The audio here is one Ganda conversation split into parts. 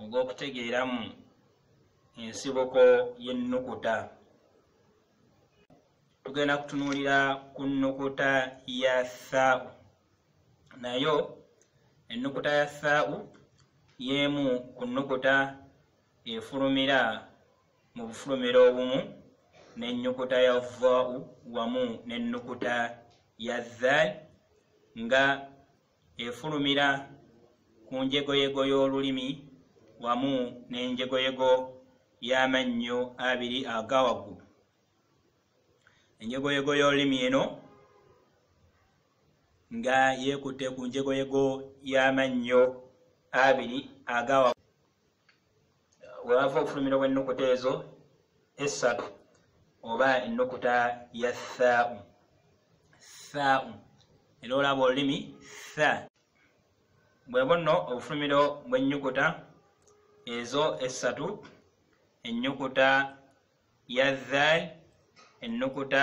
ogw'okutegeeramu ensibuko y'ennukuta tugenda kutunuulira ku nnukuta ya thaau nayo ennukuta ya thaau y'emu ku nnukuta efulumira mu bufulumira obumu n'ennyukuta ya vaau wamu n'ennukuta ya zal nga efulumira ku njegoyego y'olulimi wamu n'enjegoyego y'amannyo abiri aga waggulu enjegoyego y'olulimi eno nga yeekutte ku njegoyego y'amannyo abiri aga waggulu wewava okufulumira wennukuta ezo essatu oba ennukuta ya thau thau era olaba olulimi tha bwebwo nno obufulumiro bwennyukuta ezo essatu ennyukuta ya dhal ennukuta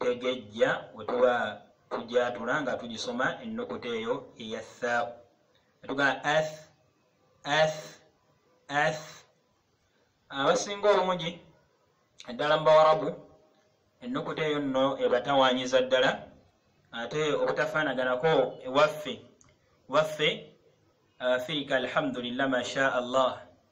Tegejja we tuba tugyatula nga tugisoma ennukuta eyo eya thaau ne tugamba ath ath ath abasinga obungi eddala mu bawarabu ennukuta eyo nno ebatawanyiza ddala ate obutafaanaganako ewaffe waffe afirika alhamdulillah masha allah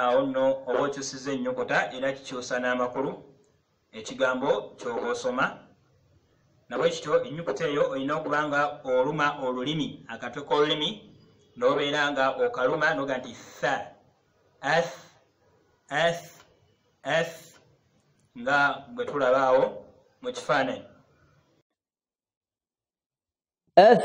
awo nno oba okyusiza ennyukuta era kikyusa n'amakulu ekigambo kyoba osoma nabwe kityo ennyukuta eyo olina okuba nga oluma olulimi akatwe k'olulimi n'obeera nga okaluma noga nti tha ath ath ath nga bwe tulaba awo mu kifaananyi ath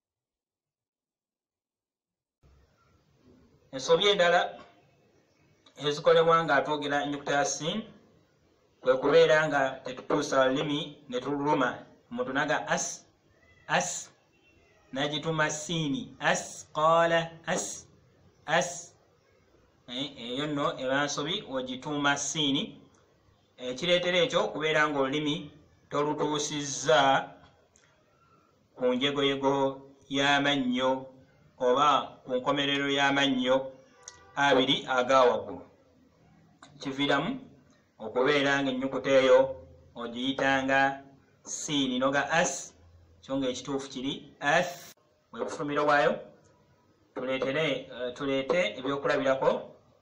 ensobi endala ezikolebwa nga atwogera enyukuta ya sin kwe kubeera nga tetutuusa lulimi ne tululuma omuntu naga as as nagituma siini as qala as as eh, eyo nno eba nsobi ogituuma siini ekireetera ekyo kubeera nga olulimi tolutuusizza ku njegoyego y'amannyo oba ku nkomerero y'amannyo abiri aga waggulu kiviiramu okubeera ng'ennyukuta eyo ogiyitanga siini noga as kyo ng'ekituufu kiri as bwe bufumiro bwayo tuleete eh, ebyokulabirako